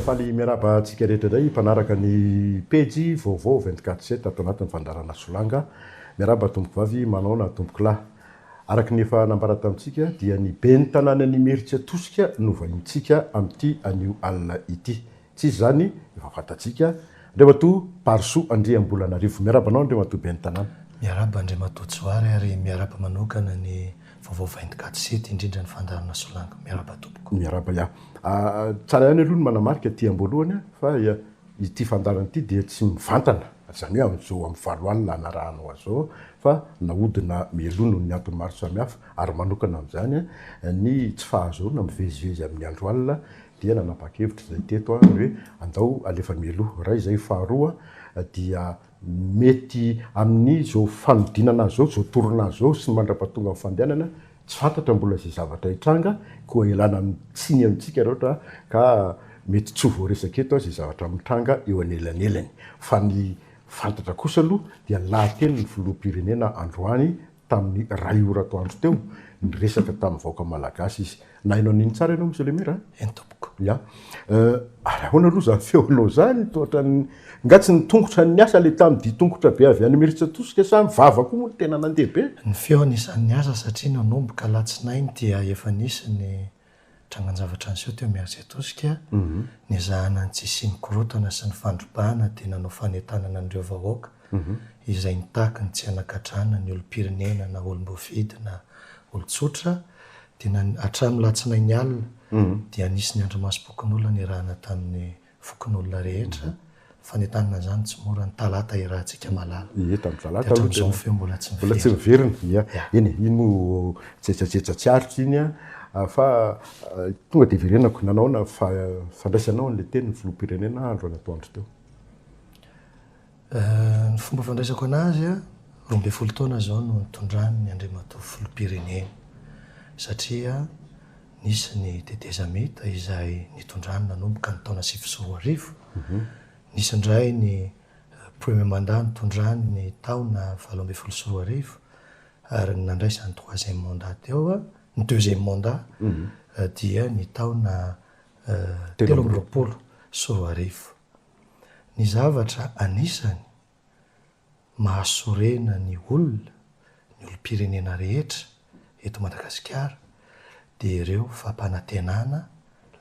faly miarahaba antsika rehetra indray mpanaraka ny pejy vaovao 24 7 ato anatin'ny fandarana solanga miarahaba tompoko vavy manaona tompoko lahy araka ny efa nambara tamintsika dia ny ben'ny tanàna ny meritsia tosika no vahintsika amin'ity anio alina ity Tsy izy izany, efa fantatsika. Andriamatoa Parisoa Andriambolanarivo. Miarahaba anao Andriamatoa Ben'ny Tanàna. Miarahaba Andriamatoa Johary ary miarahaba manokana ny Vaovao Vaindoka ato Site, indrindra ny Fandaharana Solange. Miarahaba tompoko. Miarahaba ya. Tsara ihany aloha ny manamarika aty am-boalohany fa ity fandaharana ity dia tsy mivantana, izany hoe amin'izao amin'ny valo alina hanarahanao azy izao, fa nahodina mialoha noho ny antony maro samihafa ary manokana amin'izany ny tsy fahazoana mivezivezy amin'ny andro alina dia nanapa-kevitra izay teto ny hoe andao alefa mialoha, iray izay, faharoa dia mety amin'izao fanodinana azy izao, izao torona azy izao sy ny mandrapatongan'ny fandehanana, tsy fantatra mbola izay zavatra hitranga, koa ialana amin'ny tsiny amintsika raha ohatra ka mety tsy ho voaresaka eto izay zavatra mitranga eo anelanelany, fa ny fantatra kosa aloha dia ny lahateny ny filoham-pirenena androany tamin'ny iray ora atoandro teo, niresaka tamin'ny vahoaka malagasy izy. Nahaino an'iny tsara ianao Monsieur le Maire a? Eny tompoko. Ya. Ary ahoana aloha izany feonao izany? Toa ohatran'ny, nga tsy ny tongotra no niasa le tamin'ny dihy tongotra be avy any Imerintsiatosika sa ny vava koa moa no tena nandeha be? Ny feon'isan'ny asa satria nanomboka alatsinainy dia efa nisy ny. Trangan-javatra niseho teo amin'ny AG Tosika, niezahana ny tsy hisian'ny korontana sy ny fandrobana dia nanao fanentanana an'ireo vahoaka izay nitaky ny tsy hanagadrana ny olom-pirenena na olom-boafidy na olon-tsotra dia hatramin'ny latsinainy alina dia nisy ny andrimasom-pokonolona niarahana tamin'ny fokonolona rehetra, ny fanentanana izany tsy mora, ny talata iarahantsika malala. Ie, tamin'ny talata aloha tena. Dia hatramin'izao ny feo mbola tsy miverina. Mbola tsy miverina, ia. Eny e, iny moa jejajeja tsy ariko iny an, fa tonga dia hiverenako, nanao ahoana fa fandraisanao ilay teny ny filoham-pirenena andro an'atoandro teo. Ny fomba fandraisako anazy a, roa ambin'ny folo taona izao no nitondrany ny Andriamatoa Filoham-pirenena satria nisy ny tetezamita izay nitondrany nanomboka ny taona sivy sy roa arivo, nisy indray ny premier mandat nitondrany ny taona valo ambin'ny folo sy roa arivo ary ny nandraisany troisième mandat teo, ny deuxième mandat dia ny taona telo amby roapolo sy roa arivo. Ny zavatra anisany mahasorena ny olona, ny olom-pirenena rehetra eto Madagasikara dia ireo fampanantenana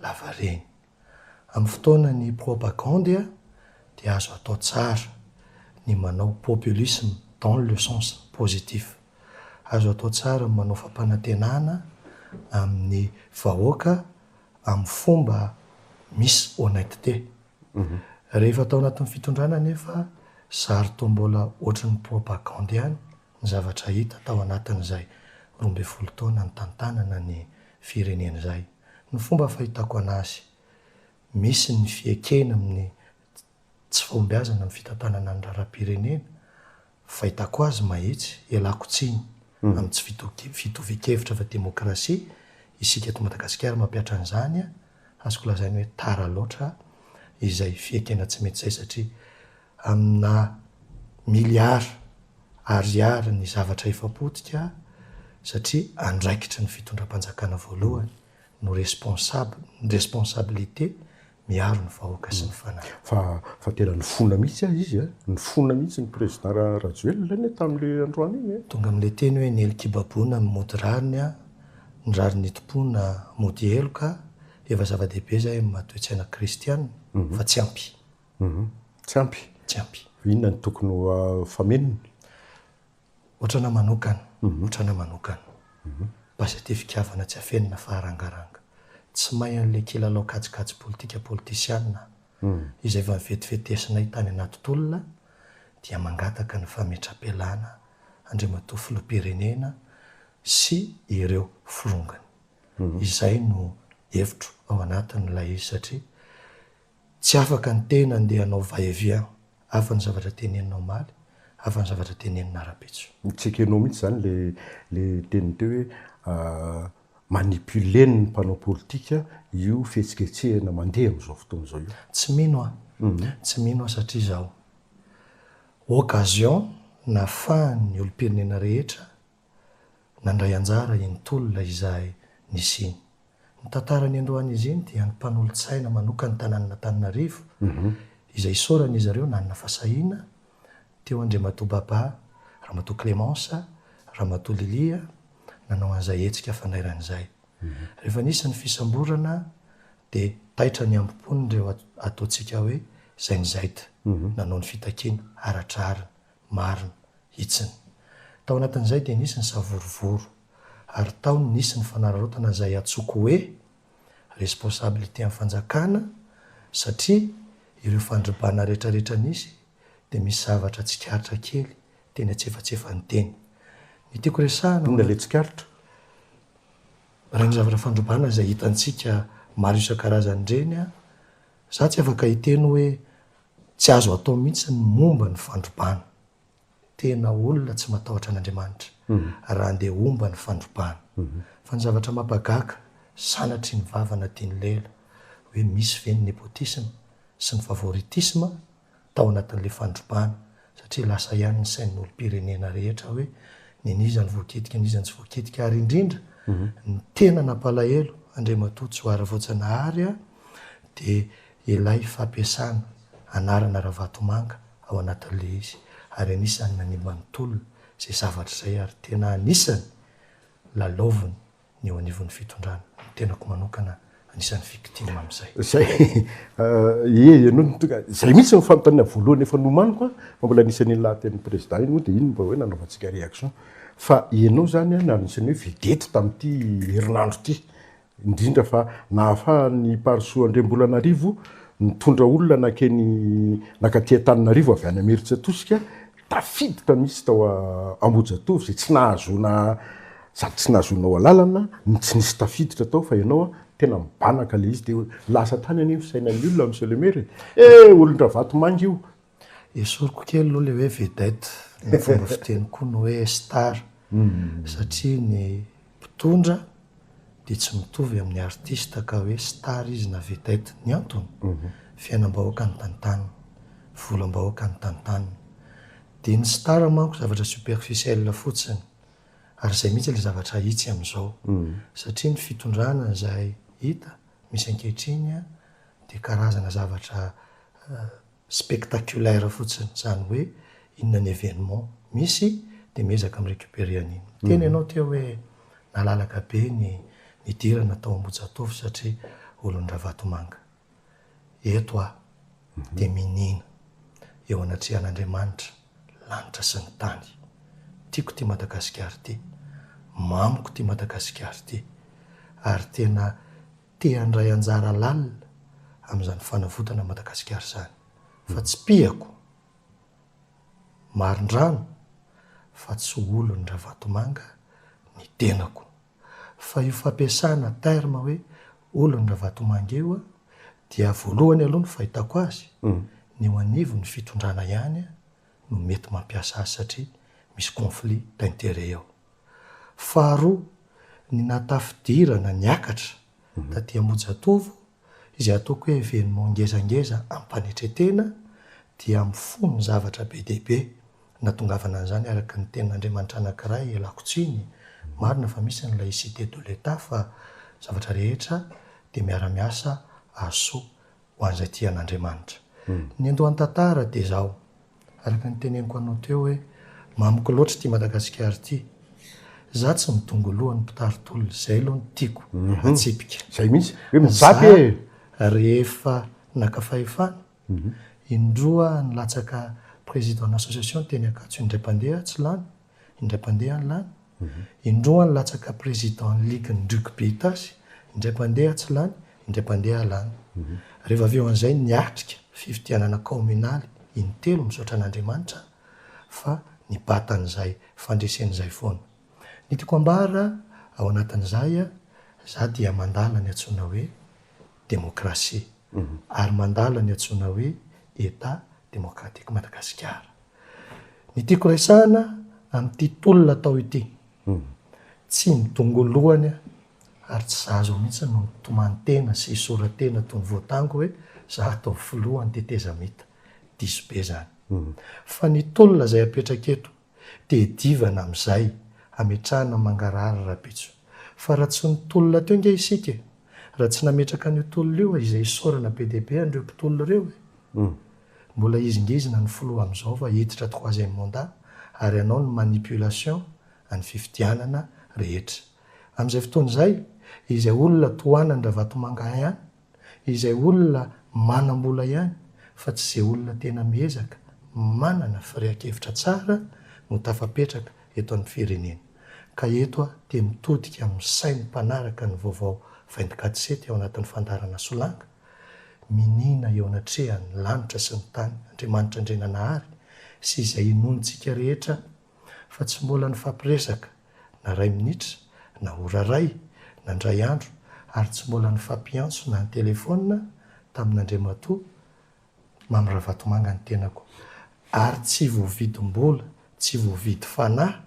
lavareny. Amin'ny fotoanan'ny propagandy dia azo atao tsara ny manao populisme dans le sens positif. Azo atao tsara ny manao fampanantenana amin'ny vahoaka amin'ny fomba misy honnêteté. Rehefa tao anatin'ny fitondrana anefa zary toa mbola ohatry ny propagandy ihany ny zavatra hita tao anatin'izay roa ambin'ny folo taona nitantanana ny firenena izay. Ny fomba fahitako anazy, misy ny fiekena amin'ny tsy fahombiazana amin'ny fitantanana ny raharaham-pirenena Fahitako azy mahitsy, ialako tsiny amin'ny tsy fitovian-kevitra fa demokrasia, isika eto Madagasikara mampihatra an'izany, azoko lazaina hoe tara loatra izay fiekena tsy mety izay satria amina miliara ariary ny zavatra efa potika satria andraikitry ny fitondram-panjakana voalohany. no responsable, ny responsabilité miaro ny vahoaka sy ny fanahy. Fa fa tena nifona mihitsy ah izy ah, nifona mihitsy ny président ra, Rajoelina anie tamin'ilay androany iny eh. Tonga amin'ilay teny hoe ny elo kibabona no mody rariny ah, ny rariny itompoana mody heloka ah, efa zava-dehibe zay amin'ny maha toe-tsaina kristiana, fa tsy ampy. Tsy ampy? Tsy ampy. Inona no tokony ho famenony? Otrana manokana, otrana manokana. Basete fitiavana tsy afenina fa arangaranga. Tsy may an'ilay kilalao kajikajy politika politisiana izay efa novetivetivesinay tany anaty tolona dia mangataka ny fametra-pialana Andriamatoa Filoham-pirenena sy ireo filongany. Izay no hevitro ao anatin'ilay izy satria Tsy afaka ny tena andeha hanao va et vient hafa ny zavatra tenenina omaly, hafa ny zavatra tenenina arabetso. Tsekenao mihitsy izany le le teniny teo hoe manipuler ny mpanao politika io fihetsiketsehana mandeha amin'izao fotoana izao io. Tsy mino aho, tsy mino aho satria izaho occasion nafahan'ny olom-pirenena rehetra Nandray anjara iny tolona izahay nisy iny. Ny tantara niandohan'izy iny dia ny mpanolotsaina manokan'ny tanànan'Antananarivo izay isaoran'izy ireo nanana fasahiana teo Andriamatoa Baba, Ramatoa Clémence, Ramatoa Lilia nanao an'izay hetsika fandairana izay. Rehefa nisy ny fisamborana dia taitra ny ambo-pon'ireo ataontsika hoe Zenzaite nanao ny fitakiana ara-drariny. Marina, hitsiny. Tao anatin'izay dia nisy ny savorovoro, ary tao no nisy ny fanararaotana izay antsoiko hoe responsabilité-n'ny fanjakana, satria ireo fandrobana rehetrarehetra nisy dia misy zavatra tsikaritra kely teny antsefatsefany teny. Ny tiako resahana amin'ilay hoe tsikaritra, ireny zavatra fandrobana izay hitantsika maro isan-karazany ireny, izaho tsy afaka hiteny hoe Tsy azo atao mihitsy ny momba ny fandrobana. Tena olona tsy matahotra an'Andriamanitra raha andeha homba ny fandrobana. Fa ny zavatra mampagaka, sanatry ny vava na tian'i Leila, hoe misy ve ny nepotisme sy ny favoritisme tao anatin'ilay fandrobana satria lasa ihany ny sain'ny olom-pirenena rehetra hoe nen'iza no voakitika n'iza no tsy voakitika ary indrindra ny tena nampalahelo Andriamatoa Johary Voajanahary dia Ilay fampiasana anarana Ravatomanga ao anatin'ilay izy ary anisan'ny nanimba ny tolona izay zavatra izay ary tena anisan'ny lalaoviny ny eo anivon'ny fitondrana. Ny tenako manokana anisan'ny victime amin'izay. Izay, ie ianao no tonga, izay mihitsy no fanontaniana voalohany efa nomaniko an, fa mbola anisan'ny iny lahatenin'ny Président iny moa dia iny mba hoe nanaovantsika réaction fa ianao izany no anisan'ny hoe vedette tamin'ity herinandro ity indrindra fa nahafahan'i Parisoa Andriambolanarivo nitondra olona nankeny nakaty Antananarivo avy any Imerintsiatosika tafiditra mihitsy tao Ambohijatovo izay tsy nahazoana sady tsy nahazoanao alalana ny tsy nisy tafiditra tao fa ianao tena mibanaka ilay izy dia lasa hatrany anie ny fisainan'ny olona Monsieur le Maire e! eh olon-dRavatomanga io Esoriko kely aloha ilay hoe vedette, ny fomba fiteny koa ny hoe star, satria ny mpitondra dia tsy mitovy amin'ny artiste ka hoe star izy na vedette. Ny antony? Fiainam-bahoaka ny tantaniny, volam-bahoaka ny tantaniny. Dia ny star manko zavatra superficiel fotsiny, ary izay mihitsy ilay zavatra hitsy amin'izao, satria ny fitondrana izay hita misy ankehitriny dia karazana zavatra spectaculaire fotsiny izany hoe inona ny événement misy dia miezaka mi récupérer an'iny. Niteny ianao teo hoe nalalaka be ny nidirana tao Ambohijatovo satria olon'i Ravatomanga. Eto aho dia miniana eo anatrehan'Andriamanitra lanitra sy ny tany. Tiako ity Madagasikara ity. Mamiko ity Madagasikara ity. Ary tena. te handray anjara lalina amin'izany fanavotana an'i Madagasikara izany fa tsy mpiako marindrano fa tsy olon'i Ravatomanga ny tenako fa io fampiasana terme hoe olon'i Ravatomanga io dia voalohany aloha ny fahitako azy ny eo anivon'ny fitondrana ihany no mety mampiasa azy satria misy conflit d'intérêt ao. Faharoa, ny nata fidirana niakatra taty Ambohijatovo izay ataoko hoe événement ngezangeza amim-panetren-tena dia mifono ny zavatra be dia be natongavana an'izany araka ny tenin'Andriamanitra anankiray ialako tsiny, marina fa misy ny laïcité de l'Etat fa ny zavatra rehetra dia miara-miasa hahasoa ho an'izay tian'Andriamanitra. Ny andohan-tantara dia izao. Araka ny teneniko anao teo hoe mamiko loatra ity Madagasikara ity. Za tsy midongy loha ny mpitari tolona, zay aloha no tiako atsipika. Zay mihitsy, hoe mijapy e! Za rehefa naka fahefana, indroa nilatsaka président-n'association teny Ankatso indray mpandeha tsy lany, indray mpandeha any lany, indroa any latsaka président ny ligue ny rugby itasy, indray mpandeha tsy lany, indray mpandeha lany. Reva avy eo an'izay niatrika fifidianana kaominaly in telo misaotra an'Andriamanitra fa nibatan'izay fandreseny izay foana. Ny tiako ambara ao anatin'izay a, za dia mandala ny antsoina hoe démocratie ary mandala ny antsoina hoe Etat démocratique Madagasikara. Ny tiako resahana amin'ity tolona atao ity, tsy ny dongoloany ary tsy za zao mihitsy no mitomany tena sy hisora tena toy ny voatango hoe za hatao filoha ny tetezamita, diso be zany. Fa ny tolona izay apetraka eto dia edivana amin'izay hametrahana mangarahara Rabetso. Fa raha tsy ny tolona teo nge isika e! Raha tsy nametraka an'io tolona io izay isaorana be dia be an'ireo mpitolona ireo e! Mbola hezingezina ny filoha amin'izao fa hiditra troisième mandat ary hanao ny manipulation an'ny fifidianana rehetra. Amin'izay fotoana izay, izay olona tohanan-dRavatomanga ihany, izay olona manam-bola ihany fa tsy izay olona tena miezaka, manana firehan-kevitra tsara no tafapetraka eto amin'ny firenena. Ka eto aho te mitodika amin'ny sain'ny mpanaraka ny vaovao vaindokatsety ao anatin'ny fandaharana Solanga, Miniana eo anatrehan' ny lanitra sy ny tany Andriamanitra Andriananahary sy izay inoantsika rehetra fa tsy mbola nifampiresaka na ray minitra na ora ray na ndray andro ary tsy mbola nifampiantso na an-telefaonina tamin' Andriamatoa Mamy Ravatomanga ny tenako ary tsy voavidim-bola tsy voavidy fanahy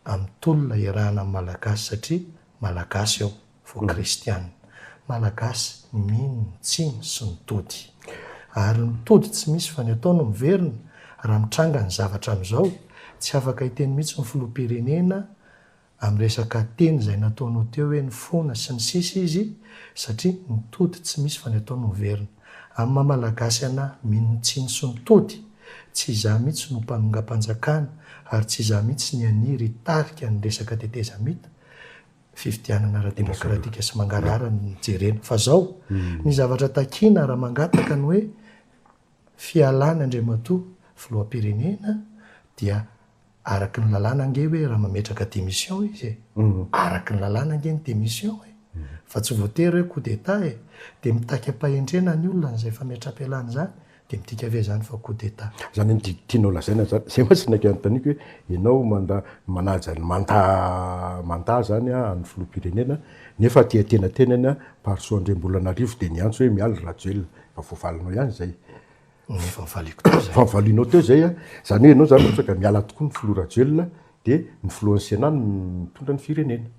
amin'ny tolona iarahana amin'ny Malagasy satria Malagasy aho vao Kristiana. Malagasy mino ny tsiny sy ny tody. Ary ny tody tsy misy fa ny atao no miverina. Raha mitranga ny zavatra amin'izao, tsy afaka hiteny mihitsy ny Filoham-pirenena amin'ny resaka teny izay nataonao teo hoe nifona sy ny sisa izy satria ny tody tsy misy fa ny atao no miverina. Amin'ny maha Malagasy anà mino tsiny sy mitody, tsy izaho mihitsy no mpanongam-panjakana ary tsy izaho mihitsy ny haniry hitarika ny resaka tetezamita, fifidianana ara-demokratika sy mangarahara no jerena. Fa izao, ny zavatra takiana raha mangataka ny hoe fialàn'Andriamatoa Filoham-pirenena dia Araky ny lalàna ange hoe raha mametraka démission izy e, araky ny lalàna ange ny démission e, fa tsy voatery hoe coup d'état e, dia mitaky am-pahendrena ny olona an'izay fametraham-pialana izany, dia midika ve izany fa coup d'état? Izany no tianao lazaina izany? Izay mantsy no nanontaniako hoe ianao manda, manaja ny manta, manta izany an'ny filoham-pirenena nefa aty antenatenany Parisoa Andriambolanarivo dia niantso hoe miala Rajoelina, efa voavalinao ihany izay. Ny fahavaliako teo izay. Fahavalianao teo izay a. Izany hoe ianao izany ohatra ka miala tokoa ny filoha Rajoelina dia ny filohan'ny Sénat no mitondra ny firenena.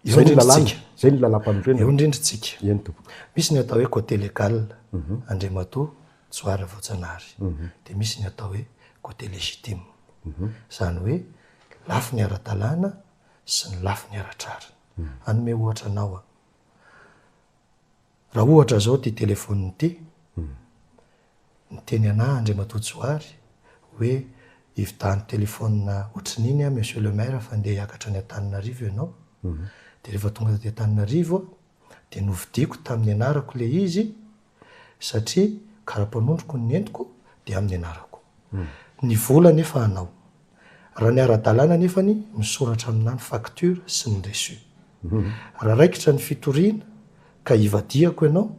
Izay ny lalàna, izay ny lalàmpanorenana. Eo indrindra isika. Eny tompoko. Misy ny atao hoe côté légal, Andriamatoa Joa Ravaojanahary. Dia misy ny atao hoe côté légitime. Izany hoe lafiny ara-dalàna sy ny lafiny ara-drariny. Hanome ohatra anao aho. Raha ohatra izao ity telefaonina ity, niteny anà Andriamatoa Johary hoe ividano telefaonina ohatrin'iny aho Monsieur le Maire fa ndeha hiakatra any Antananarivo ianao, dia rehefa tonga taty Antananarivo aho dia novidiako tamin'ny anarako ilay izy satria kara-panondroko ny nentiko dia amin'ny anarako. Ny vola anefa anao. Raha ny ara-dalàna anefany, misoratra aminà ny facture sy ny reçu. Raha raikitra ny fitoriana ka ivadihako ianao,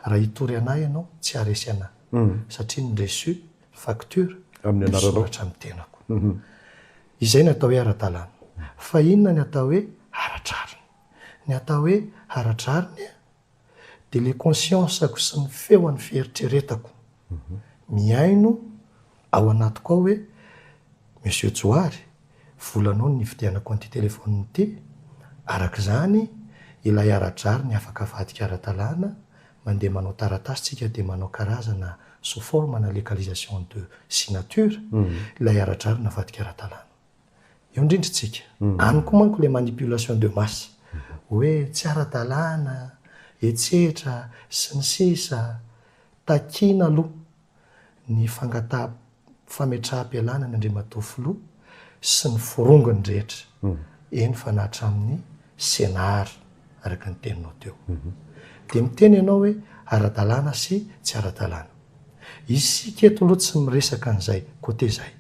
raha hitory anà ianao, tsy haharesy anà, satria ny reçu, facture, misoratra amin'ny tenako. Izay ny atao hoe ara-dalàna. Fa inona ny atao hoe ara-drariny? Ny atao hoe ara-drariny? dia ilay conscience-ko sy ny feon'ny fieritreretako mihaino ao anatiko ao hoe, Monsieur Johary, volanao ny nividianako an'ity téléphone ity, araka izany ilay ara-drariny afaka avadika ara-dalàna, mandeha manao taratasy tsika dia manao karazana sous forme-na légalisation de signature ilay ara-drariny avadika ara-dalàna. Eo indrindra istsika. Any koa manko ilay manipulation de masse. Hoe tsy ara-dalàna, etsetra, sy ny sisa Takiana aloha ny fangataha-fametraham-pialana ny Andriamatoa Filoha sy ny forongony rehetra, eny fa na hatramin'ny CNAR, araka ny teninao teo. Dia miteny ianao hoe ara-dalàna sy tsy ara-dalàna. Isika eto aloha tsy miresaka an'izay côté izay,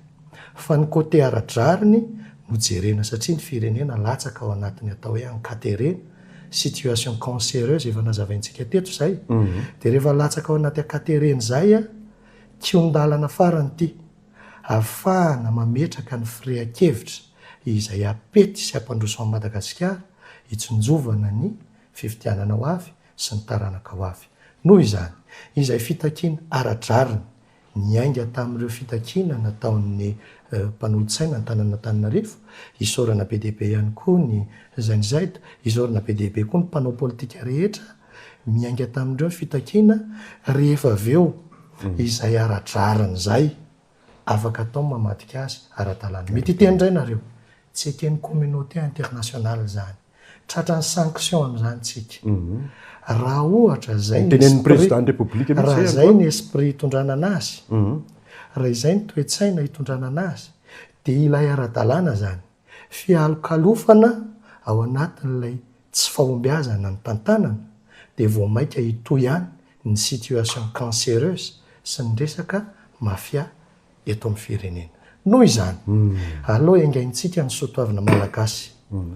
fa ny côté ara-drariny no jerena satria ny firenena latsaka ao anatin'ny atao hoe ankata ireny, situation cancéreuse efa nazavaintsika teto izay, dia rehefa latsaka ao anaty ankata ireny izay, kion-dalana farany ity hahafahana mametraka ny firehan-kevitra izay hampety sy hampandroso an'i Madagasikara hitsinjovana ny fifidianana ho avy, sy ny taranaka ho avy. Noho izany, izay fitakiana ara-drariny niainga tamin'ireo fitakiana nataon'ny mpanolotsaina an-tananan'Antananarivo, isaorana be dia be ihany koa ny Gen Z, isaorana be dia be koa ny mpanao politika rehetra miainga tamin'ireo fitakiana rehefa avy eo izay ara-drariny izay, afaka atao ny mamadika azy ara-dalàna. Mety hiteny indray nareo, tsy eken'ny communauté internationale izany. Tratran'ny sanction amin'izany tsika. Raha ohatra zay ny esprit, raha izay ny esprit hitondrana anazy, raha izay ny toe-tsaina hitondrana anazy, dia ilay ara-dalàna izany. Fialokalofana ao anatin'ilay tsy fahombiazana ny tantanana dia vao maika hitohy any ny situation cancereuse sy ny resaka mafia eto amin'ny firenena. Noho izany, aleo engaintsika ny soatoavina malagasy.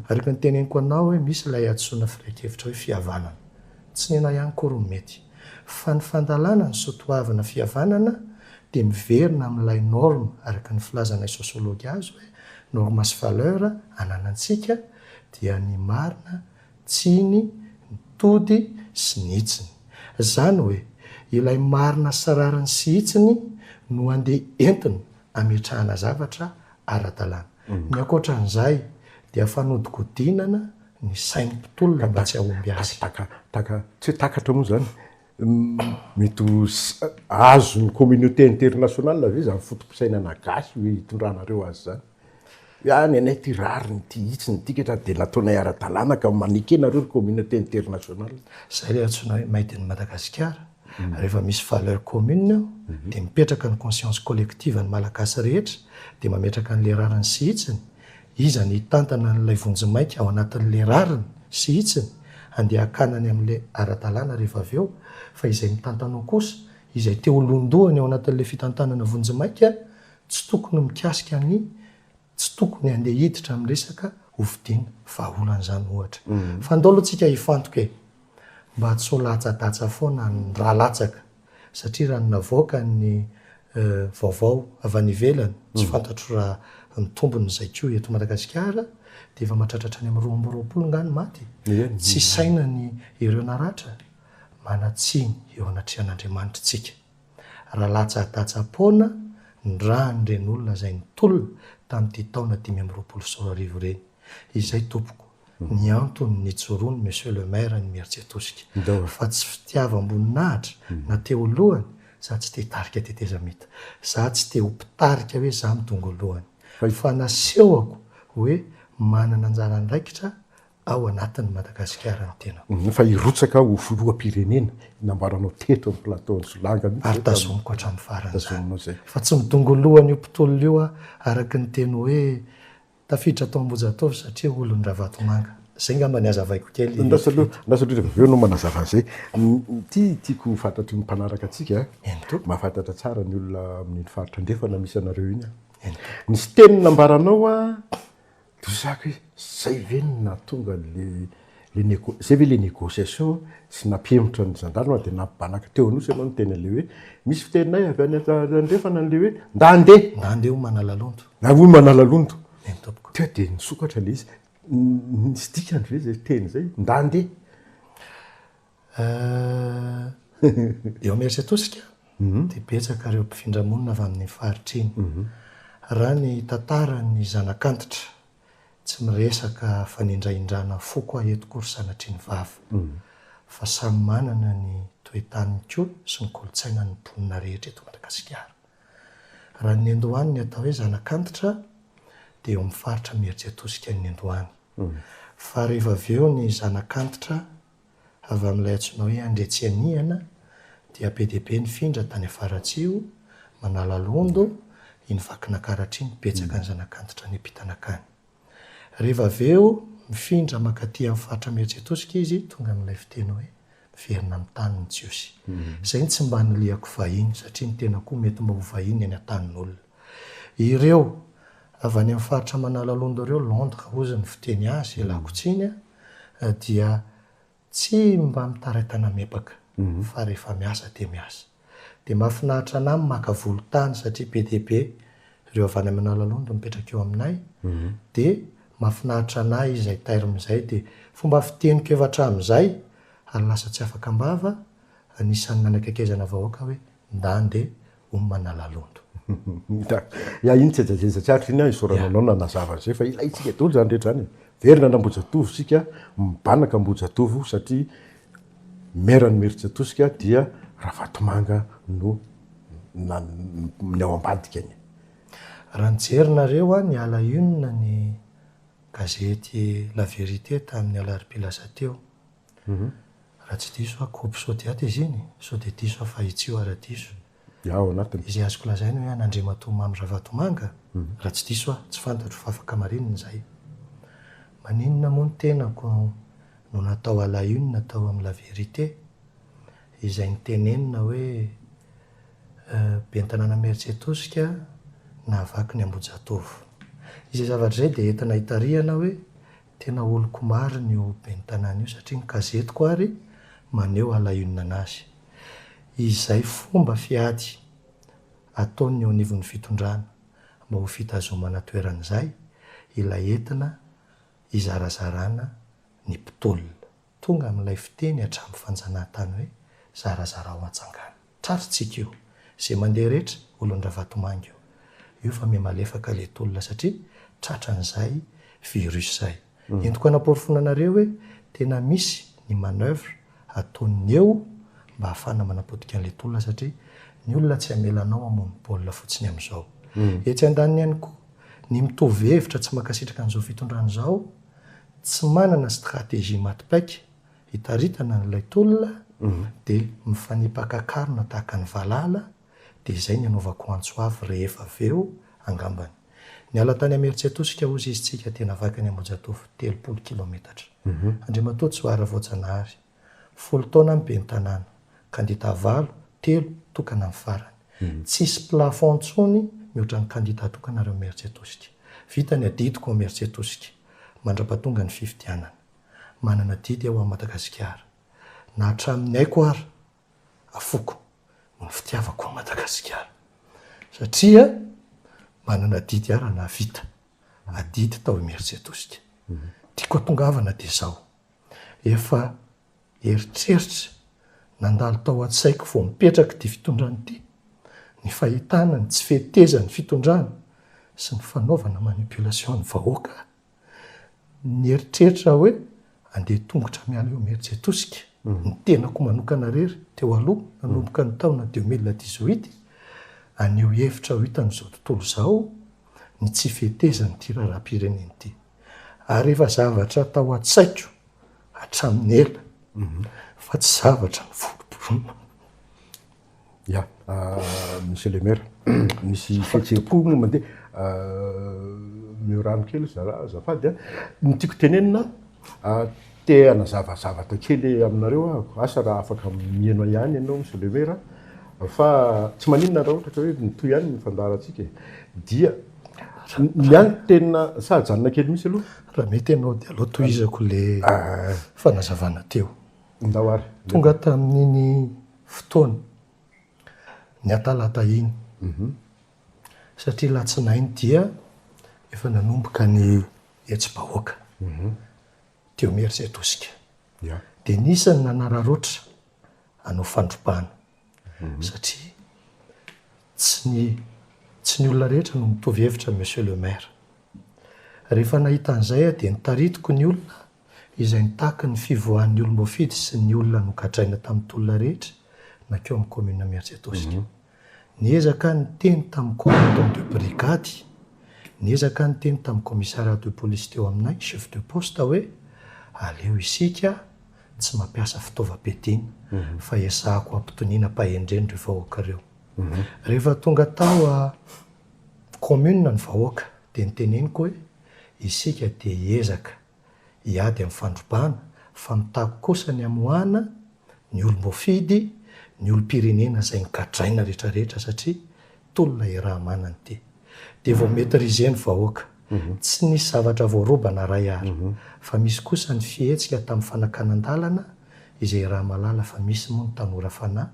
Ary efa noteneniko anao hoe misy ilay hadisoana firehan-kevitra hoe fihavanana. Tsy nenaha ihany akory no mety. Fa ny fandalana ny soatoavina fihavanana dia miverina amin'ilay norme araka ny filazanay sosiology azy hoe normes sy valeurs ananantsika dia ny marina, tsiny, ny tody sy ny hitsiny. Zany hoe ilay marina sy rariny sy hitsiny no andeha entina ametrahana zavatra ara-dalàna. Ny ankoatran'izay dia fanodikodinana ny sain'ny mpitolona mba tsy hahomby azy. Taka, taka, taka, tsy hoe takatra moa zany. Mety ho azon'ny communauté internationale ve izany foto-pisainana gasy hoe hitondranareo azy izany? Hoe ny anay ity rariny ity, hitsiny ity ketrany dia nataonay ara-dalàna ka maneke nareo ry communauté internationale. Izay ilay antsoina hoe made in Madagascar. Rehefa misy valeur commune eo dia mipetraka ny conscience collective ny malagasy rehetra dia mametraka an'ilay rariny sy hitsiny. Iza no hitantana an'ilay vonjimaika ao anatin'ilay rariny sy hitsiny handeha hakana ny amin'ilay ara-dalàna rehefa avy eo, fa izay mitantana ao kosa, izay te ho londohany ao anatin'ilay fitantanana vonjimaika, tsy tokony mikasika ny tsy tokony handeha hiditra amin'ny resaka hofidiana. Vahaolana izany ohatra. Fa ndao aloha tsika hifantoka e! Mba tsy ho latsadatsa foana ny rà latsaka. satria raha ny navoaka ny vaovao avy any ivelany, tsy fantatro raha ny tombony izay koa eto Madagasikara, dia efa mahatratra hatrany amin'ny roa amby roapolo angaha ny maty e? Tsy isaina ny ireo naratra? Manan-tsiny eo anatrehan'Andriamanitra isika. Raha latsa-datsa-poana ny ràn'ireny olona izay nitolona tamin'ity taona dimy amby roapolo sy roa arivo ireny. Izay tompoko. ny antony nijoroany Monsieur le Maire ny Imeritsiatosika fa tsy fitiavam-boninahitra na te ho lohany za tsy te tarika tetezamita za tsy te ho mpitarika hoe za midongy ho lohany fa nasehoko hoe manana anjara andraikitra ao anatin'ny Madagasikara ny tenako. Fa hirotsaka ho filoham-pirenena nambaranao teto amin'ny plateau-n'i Solanga mihitsy. Ary tazomiko hatramin'ny faran'izany fa tsy midongy ho lohany io mpitolona io aho araka ny teny hoe Tafiditra tao Ambohijatovo satria olon'i Ravatomanga. Izay angamba ny hazavaiko kely. Andraso aloha, andraso indrindra fa avy eo ianao manazava an'izay. Ity tiako ho fantatry ny mpanaraka antsika a. Eny tompoko. Mahafantatra tsara ny olona amin'iny faritra andrefana misy anareo iny aho. Eny tompoko. Nisy teny nambaranao a, diso zaka hoe izay ve no nahatonga an'ilay Zay ve ilay négociation sy nampihemotra ny gendarme dia nampibanaka teo anosy ianao niteny an'ilay hoe misy fiteninay avy any andrefana an'ilay hoe nda handeha. Nda handeha hoy Manalalondo. Nda hoy Manalalondo. Eny tompoko. Teo dia nisokatra ilay izy. Nisy dikany ve izay teny izay? Nda handeha. Eo Imerintsiatosika dia betsaka ireo mpifindra monina avy amin'iny faritra iny. Raha ny tantaran'ny zanak'antitra Tsy miresaka fanindrahindrana foko aho eto koa ry sanatria ny vava. Fa samy manana ny toe-taniny koa sy ny kolontsainany ny mponina rehetra eto Madagasikara. Raha ny niandohany ny atao hoe zanak'antitra dia eo amin'ny faritra Imerijiatosika ny niandohany. Fa rehefa avy eo ny zanak'antitra Avy amin'ilay antsoina hoe Andriatsy Anihana dia be dia be ny findra tany Afaratsio, Manalalondo, iny Vakinankaratra iny, betsaka ny zanak'antitra niampita nankany. Rehefa avy eo mifindra mankaty amin'ny faritra Mihetsetosika izy tonga amin'ilay fiteny hoe miverina amin'ny tany ny Jiosy. Izay no tsy mba nilihako vahiny satria ny tenako koa mety mba ho vahiny any an-tanin'olona. Ireo avy any amin'ny faritra Manalalondo ireo, Londres hozy ny fiteny azy, Elakotsiny, dia tsy mba mitaraitana mepaka fa rehefa miasa dia miasa. Dia mahafinaritra anah ny maka volontany satria be dia be ireo avy any amin'ny Analalondo mipetraka eo aminay dia mahafinaritra anah izay terme izay dia fomba fiteniko efa hatramin'izay ary lasa tsy afaka am-bava anisan'ny nanakaikaizana vahoaka hoe ndande Hono Manalalondo. Ya iny tsy ajajezatra Atra iny an isaorana anao nanazava an'izay fa ilaintsika daholo izany rehetra izany e. Verina an Ambohijatovo isika, mibanaka Ambohijatovo satria maire an'i Imerintsiatosika dia Ravatomanga no ny ao ambadika ny. Raha nijerinareo an ny ala une ny gazety la vérité tamin'ny alarobia lasa teo Raha tsy diso aho, coupe Sodiat izy iny, sao dia diso aho fa i Tsioha raha diso. Dia ao anatiny. Izay azoko lazaina hoe an'Andriamatoa Mamy Ravatomanga, raha tsy diso aho, tsy fantatro fa afaka marinina izay. Maninona moa ny tenako no natao à la une tao amin'ny La Vérité, izay nitenenina hoe Ben'ny Tanàna Imeritsiatosika nahavaky ny Ambohijatovo. Izay zavatra izay dia entina hitarihana hoe Tena oloko marina io ben'ny tanàna io satria ny kazetiko ary maneho halaionina anazy. Izay fomba fiady ataon'ny eo anivon'ny fitondrana mba ho fitazomana toerana izay ilay entina hizarazarana ny mpitolona. Tonga amin'ilay fiteny hatramin'ny fanjanahantany hoe, Zarazarao antsangano. Tratritsika io. Izay mandeha rehetra, olon-dRavatomanga io. Io fa miha malefaka ilay tolona satria tratran'izay virus izay. Entiko hanaporofoana anareo hoe tena misy ny manoeuvre ataon'ny eo mba hahafahana manapotika an'ilay tolona satria ny olona tsy hamela anao hamono baolina fotsiny amin'izao. Etsy andaniny ihany koa, ny mitovy hevitra tsy mankasitraka an'izao fitondrana izao, tsy manana stratégie maty paika hitaritana an'ilay tolona dia mifanipaka karona tahaka ny valala dia izay ny anaovako antso avy rehefa avy eo angambany. Niala tany Imerintsiatosika hozy izy tsika dia navakany Ambohijatovo telopolo kilometatra. Andriamatoa Tsoara Voajanahary. Folo taona ny ben'ny tanàna, kandida valo, telo tokana ny farany. Tsisy plafond intsony mihoatra ny kandida tokana reo merce tosika. Vita ny adidiko ao merce tosika, mandrapatonga ny fifidianana. Manana didy aho ao Madagasikara. Na hatramin'ny aiko ary, afoko noho ny fitiavako an'i Madagasikara. Satria manana didy aho raha nahavita adidy tao Imeritsiatosika. Tiako hatongavana dia izao. Efa eritreritra nandalo tao an-tsaiko vao mipetraka ity fitondrana ity, ny fahitana ny tsy fetezan'ny fitondrana sy ny fanaovana manipulation ny vahoaka. Nieritreritra aho hoe andeha tongotra miala eo Imerintsiatosika, ny tenako manokana irery teo aloha nanomboka ny taona deux mille dix-huit, haneho hevitra ho hitan'izao tontolo izao ny tsy fetezan'ity raharaham-pirenena ity. ary efa zavatra tao an-tsaiko hatramin'ny ela fa tsy zavatra noforotoroina. Ya, Monsieur le Maire, misy fihetseham-po moa mandeha. Omeo rano kely azafady an! Ny tiako tenenina, te hanazava zavatra kely aminareo aho, asa raha afaka miheno ahy ihany ianao Monsieur le Maire an! fa tsy maninona raha ohatra ka hoe mitohy ihany ny fandaharantsika e! dia Ny ahy ny tena, sa ajanona kely mihitsy aloha? Raha mety ianao dia aleo tohizako ilay fanazavana teo. Ndao ary. Tonga tamin'iny fotoana, ny atalata iny, satria latsinainy dia efa nanomboka ny hetsi-bahoaka teo Imerintsiatosika. Dia nisy ny nanararotra hanao fandrobana. satria tsy ny tsy ny olona rehetra no mitovy hevitra amin'i Monsieur le Maire. Rehefa nahita an'izay aho dia nitaritiko ny olona izay nitaky ny fivoahan'ny olom-boafidy sy ny olona nogadraina tamin'ny tolona rehetra nankeo amin'ny Commune Miantsiatosika. Niezaka aho niteny tamin'ny Commandant de Brigade, niezaka aho niteny tamin'ny Commissariat de Police teo aminay, Chef de Poste hoe aleo isika Tsy mampiasa fitaovam-piadiana fa ezahako hampitoniana am-pahendrena ireo vahoaka ireo. Rehefa tonga tao kaominina ny vahoaka dia noteneniko hoe isika dia hiezaka hiady amin'ny fandrobana fa mitaky kosa ny hamoahana ny olom-boafidy, ny olom-pirenena izay nogadraina rehetrarehetra satria Tolona i Rahamananty. Dia vao maitriser ny vahoaka. Tsy nisy zavatra voarobana Ray a. Fa misy kosa ny fihetsika tamin'ny fanakanan-dalana izay i Ramalala fa misy moa ny tanora fanahy.